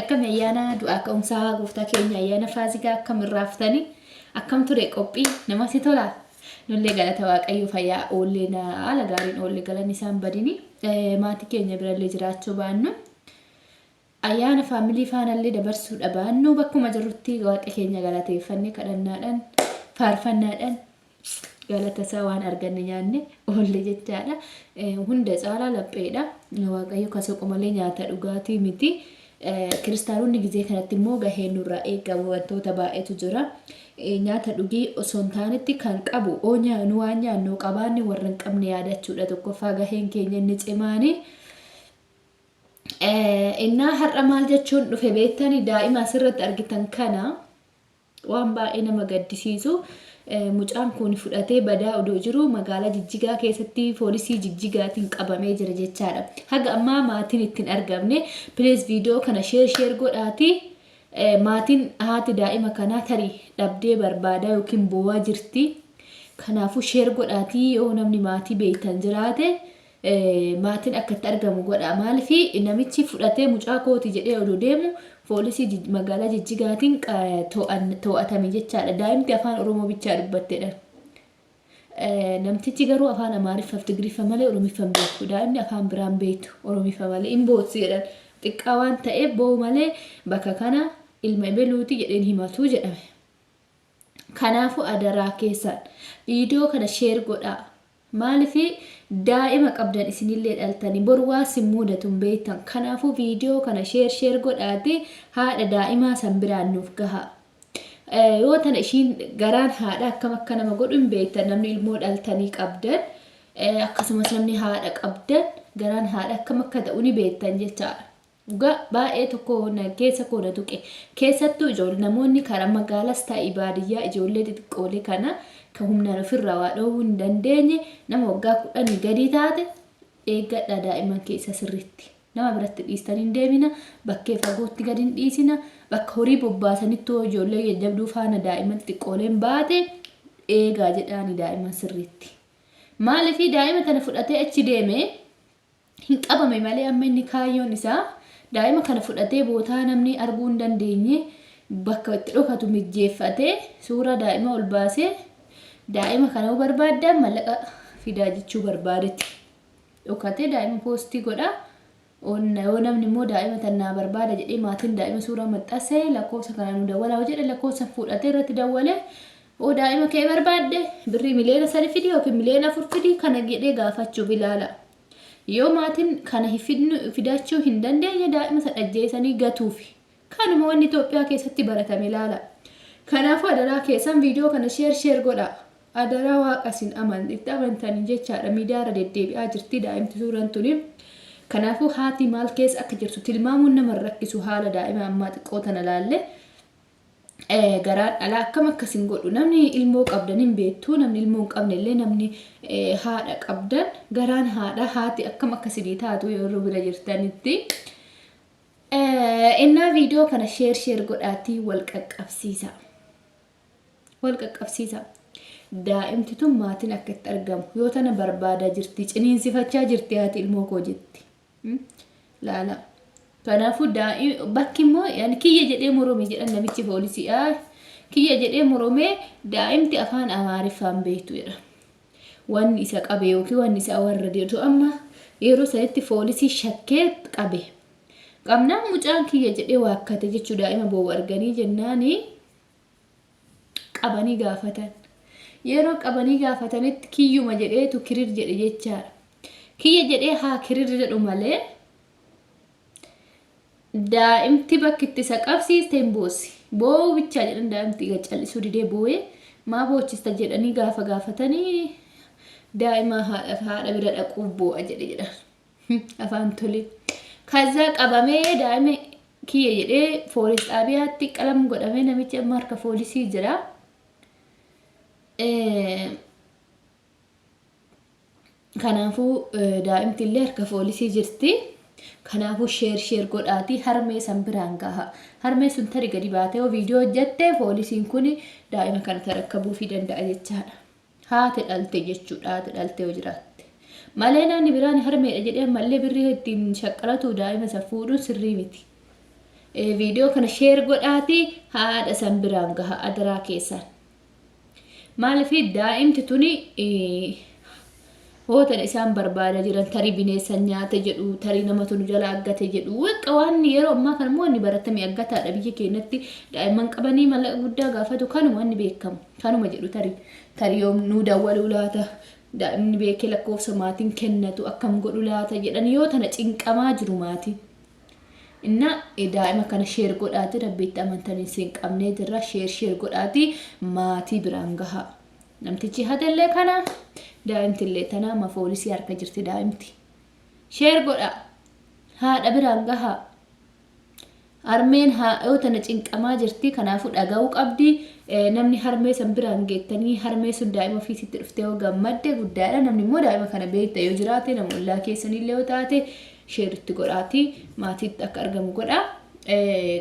Akkami ayyaana du'aa ka'umsaa gooftaa keenya ayyaana faasigaa akkam irraaftanii akkam ture qophii namatti tolaa nullee galata waaqayyoo fayyaa oollee na haala gaariin oolle galanni isaan badini Eh, maatii keenya birallee jiraachuu baannu ayyaana faamilii faanallee dabarsuu dhabaannu bakkuma jirrutti waaqa keenya galateeffannee kadhannaadhaan faarfannaadhaan galatasaa waan arganne nyaanne oolle jechaadha. Hunda caalaa lapheedha. Waaqayyo ka soqu malee nyaata dhugaatii miti. Kiristaanonni gizee kanatti immoo gaheen nurraa eegamu wantoota baay'eetu jira. Nyaata dhugii osoo hin taanetti kan qabu oo nyaannu waan nyaannu qabaanne warra hin qabne yaadachuudha tokkoffaa gaheen keenya inni cimaanii. Innaa har'a maal jechuun dhufe beektanii daa'ima asirratti argitan kana. Waan baay'ee nama gaddisiisu mucaan kun fudhatee badaa odoo jiruu magaalaa Jijjigaa keessatti poolisii Jijjigaatiin qabamee jira jechaadha. Haga ammaa maatiin itti hin argamne. Please viidiyoo kana share share godhaatii maatiin haati daa'ima kanaa tarii dhabdee barbaadaa yookiin boo'aa jirti. Kanaafuu share godhaatii yoo namni maatii beektan jiraate maatin akka itti argamu godhaa maalifi namichi fudhatee mucaa kooti jedhee odoo deemu poolisii jij- magaalaa jijjigaatiin qa- to'an- to'atame jechaadha daa'imti afaan oromoo bichaa dubbattedha Eh, namtichi garuu afaan amaariffa fi tigriffa malee oromiffa hin beeku daa'imni afaan biraan beektu oromiffa malee hin bootsi jedhan xiqqaa waan ta'eef boo'u malee bakka kana ilma ibeluuti jedheen himatu jedhame kanaafuu adaraa keessaan viidiyoo kana sheer godhaa Maaliif daa'ima qabdan isinillee dhaltanii bor waan sin muudatu hin beektan kanaafuu viidiyoo kana sheer sheer godhaatii haadha daa'imaa san biraan nuuf gahaa. Yoo tana ishiin garaan haadha akkam akka nama godhu hin beektan namni ilmoo dhaltanii qabdan akkasumas namni haadha qabdan garaan haadha akkam akka ta'u ni beektan jechaadha. Dhugaa baay'ee tokko na keessa koo na tuqe. Keessattuu ijool namoonni karaa magaalas ta'i baadiyyaa ijoollee xixiqqoolee kana ka humnaan ofirraa waa dhoowwuu hin dandeenye nama waggaa kudhanii gadii taate eeggadhaa daa'imman keessa sirriitti. Nama biratti dhiistanii hin deemina, bakkee fagootti gad hin dhiisina, bakka horii bobbaasanitti hoo ijoollee jajjabduu faana daa'imman xixiqqooleen baate eegaa jedhaani daa'imman sirriitti. Maaliif daa'ima tana fudhatee achi deeme hin qabame malee amma inni kaayyoon isaa daa'ima kana fudhatee bootaa namni arguu hin dandeenye bakka itti dhokatu mijjeeffatee suuraa daa'ima ol baasee daa'ima kana yoo barbaaddan mallaqa fidaa jechuu barbaadetti dhokatee daa'ima poostii godha. Onna yoo namni immoo daa'ima tannaa barbaada jedhee maatiin daa'ima suuraa maxxanse lakkoofsa kana nu dawwalaa jedhe lakkoofsa fuudhatee irratti dawwale oo daa'ima kee barbaadde birrii miliyoona sadi fidi yookiin miliyoona afur fidi kana jedhee gaafachuuf ilaala. Yoo maatin kana hifidnu fidaachuu hin dandeenye daa'ima san ajjeesanii gatuufi. Kanuma wanni Itoophiyaa keessatti baratame laala. Kanaafuu adaraa keessan viidiyoo kana sheer sheer godhaa. Adaraa waaqa isin aman itti amantaniin jechaadha miidiyaa irra deddeebi'aa jirti daa'imti suuran tuni. Kanaafuu haati maal keessa akka jirtu tilmaamuun nama hin rakkisu haala daa'ima ammaa xiqqoo tana laalle. garaa dhalaa akkam akkas hin godhu namni ilmoo qabdan hin beektu namni ilmoo hin qabne illee namni haadha qabdan garaan haadha haati akkam akkasinii taatu yeroo bira jirtanitti. Innaa viidiyoo kana sheer sheer godhaatii wal qaqqabsiisa. Wal qaqqabsiisa. Daa'imti tun maatiin akka itti argamu yoo tana barbaadaa jirti ciniinsifachaa jirti haati ilmoo koo jetti. Laala. Kanaafuu daa'im bakki immoo yani kiyya jedhee morome jedhan namichi poolisii aa kiyya jedhee moromee daa'imti afaan amaariffaan beektu jedha. Wanni isa qabe yookiin wanni isa warra deetu amma yeroo sanitti poolisii shakkee qabe. Qabnaan mucaan kiyya jedhee waakkate jechuu daa'ima boo'u arganii jennaanii. qabanii gaafatan. Yeroo qabanii gaafatanitti kiyyuma jedheetu kirir jedhe jechaadha. Kiyya jedhee haa kirir jedhu malee daa'imti bakki itti isa qabsiiste hin boossi. Boo'uu bichaa jedhan daa'imti egaa callisuu didee boo'ee maa boochista jedhanii gaafa gaafatanii daa'ima haadha haadha bira dhaquuf boo'a jedhe jedhan. afaan tolee kazzaa qabamee daa'ima kiyya jedhee foolis xaabiyaatti qalam godhamee namichi amma harka foolisii jira. Kanaafuu daa'imti illee harka foolisii jirti. Kanaafuu sheer sheer godhaatii harmee san biraan gaha. Harmee sun tari gadi baatee yoo viidiyoo hojjatte foolisiin kun daa'ima kana tarakkabuufii danda'a jechaadha. Haati dhalte jechuudha haati dhalte yoo jiraatte. Malee namni biraan harmeedha jedhee ammallee birrii ittiin shaqqalatuu daa'ima san fuudhuun sirrii miti. Viidiyoo kana sheer godhaatii haadha san biraan gaha adaraa keessaan. Maaliif daa'imti tuni Hoo tan isaan barbaada jiran tarii bineessan nyaate jedhu, tarii namatu nu jalaa aggate jedhu. Waqqa waan yeroo ammaa kana immoo wanni baratame aggataadha biyya keenyatti daa'imman qabanii mallaqa guddaa gaafatu kanuma wanni beekamu. Kanuma jedhu tarii. Tarii yoom nuu dawwaluu laata? Daa'imni beekee lakkoofsa maatiin kennatu akkam godhu laata jedhan yoo tana cinqamaa jiru maatiin. Inna daa'ima kana sheer godhaati rabbi itti amantaniin siin qabnee jirra sheer sheer godhaati maatii biraan gahaa. Namtichi hatellee kana daa'imtillee tanaa ma foolisii harka jirti daa'imti. Sheer godhaa. Haadha biraan gahaa. Harmeen haadhoo tana cinqamaa jirti kanaafuu dhaga'uu qabdi. Namni harmee san biraan geettanii harmee sun daa'ima ofiisitti dhuftee yoo gammadde guddaadha. Namni immoo daa'ima kana beekta yoo jiraate nama ollaa keessanillee yoo taate share itti godhaati maatiitti akka argamu godha.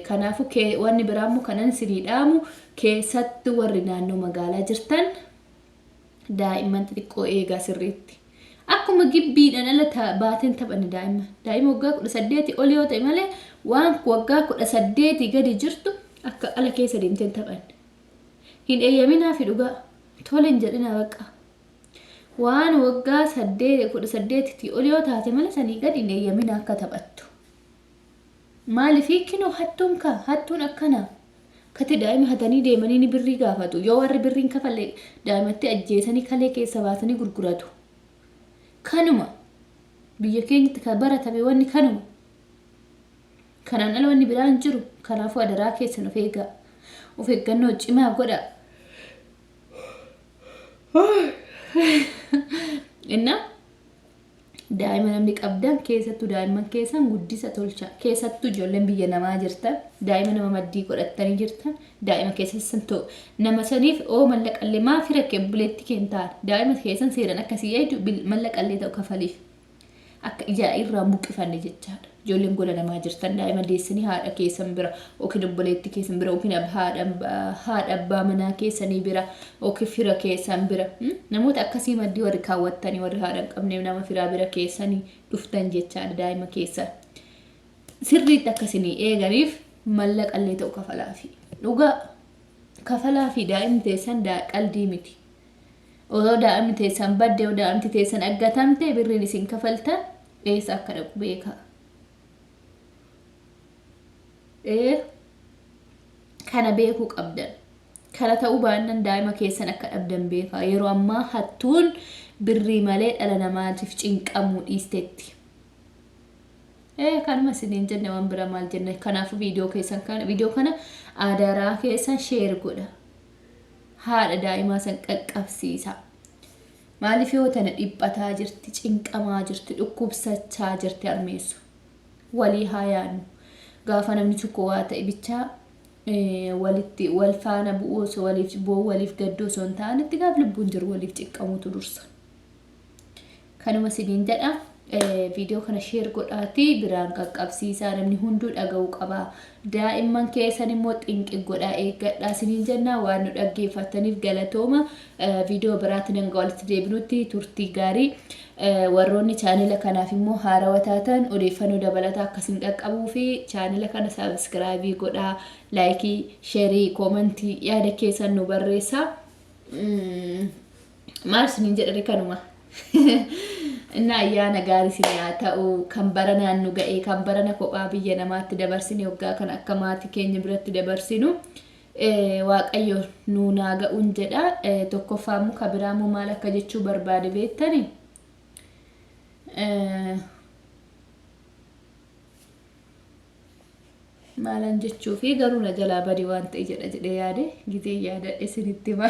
Kanaafu wanni biraa immoo kanan sinii dhaamu keessatti warri naannoo magaalaa jirtan daa'imman xixiqqoo eegaa sirriitti. Akkuma gibbiidhaan ala ta- baateen taphanne daa'imman. Daa'ima waggaa kudha saddeeti ol yoo ta'e malee waan waggaa kudha saddeeti gadi jirtu akka ala keessa deemteen taphanne. Hin eeyyaminaa fi dhugaa tole hin jedhinaa baqqaa. Waan waggaa 18 tii ol yoo taate malee sanii gad hin eeyyamina akka taphattu. Maalifi kinoo hattuun ka hattuun akkana kati daa'ima hatanii deemanii ni birrii gaafatu yoo warri birriin kafalle daa'imatti ajjeesanii kalee keessa baasanii gurguratu. Kanuma biyya keenyatti kan baratame wanni kanuma. Kanaan ala wanni biraa hin jiru kanaafuu adaraa keessan of eegaa. Of eeggannoo cimaa godhaa. Innaa daa'ima namni qabdan keessattuu daa'imman keessan guddisa tolcha keessattuu ijoolleen biyya namaa jirtan daa'ima nama maddii godhattanii jirtan daa'ima keessan san ta'u nama saniif oo mallaqallee maafi rakkee buleetti kentaan daa'ima keessan seeran akkasii eeydu mallaqallee ta'u kafaliif Akka ijaa irraa hin buqqifanne jechaadha. Ijoolleen gola namaa jirtan daa'ima deessanii haadha keessan bira yookiin obboleettii keessan bira yookiin ab- haadha haadha abbaa manaa keessanii bira yookiin fira keessan bira hmm? namoota akkasii maddii warri kaawwattanii warri haadha hin qabneef nama firaa bira keessanii dhuftan jechaadha daa'ima keessan. Sirriitti akka isinii eeganiif mallaqallee ta'u kafalaafi. Dhugaa kafalaafi daa'imni teessan daa- qaldii miti. Odoo daa'imni teessan badde yoo daa'imti teessan aggatamte birriin isin kafaltan eessa akka dhaqu beekaa. Ee kana beekuu qabdan. Kana ta'uu baannan daa'ima keessan akka dhabdan beekaa. Yeroo ammaa hattuun birrii malee dhala namaatiif cinqamuu dhiistetti. Ee kanuma isiniin jenne waan bira maal jenna. Kanaafuu viidiyoo keessan kana viidiyoo kana adaraa keessan sheer godha. haadha daa'imaa san qaqqabsiisa. Maaliif yoo tana dhiphataa jirti, cinqamaa jirti, dhukkubsachaa jirti armeessu. Walii haa yaadnu. Gaafa namni tokko waa ta'e bichaa walitti wal faana bu'uu osoo waliif boo waliif gadduu osoo hin taane itti gaaf lubbuun jiru waliif cinqamuutu dursa. Kanuma isiniin jedha. Viidiyoo kana sheer godhaatii biraan qaqqabsiisaa namni hunduu dhaga'uu qaba. Daa'imman keessan immoo xinqi godhaa eeggadhaa isiniin jenna waan nu dhaggeeffattaniif galatooma. Viidiyoo biraatti nan ga'a walitti deebinutti turtii gaarii. Warroonni chaanila kanaaf immoo haarawa taatan odeeffannoo dabalataa akka isin qaqqabuu fi chaanila kana saabiskiraayibii godhaa laayikii, sheerii, koomantii yaada keessan nu barreessaa. maal isiniin jedhani kanuma inna ayyaana gaarii isin yaa ta'u kan bara naannu ga'e kan barana kophaa biyya namaatti dabarsine waggaa kan akka maatii keenya biratti dabarsinu eh, waaqayyo nuu naa ga'uun jedha Eh, tokkoffaa immoo ka biraa immoo maal akka jechuu barbaade beektani Eh, maalan jechuu fi garuu na jalaa bade waan ta'e jedha jedhee yaade gizee yaadadhe isinitti hima.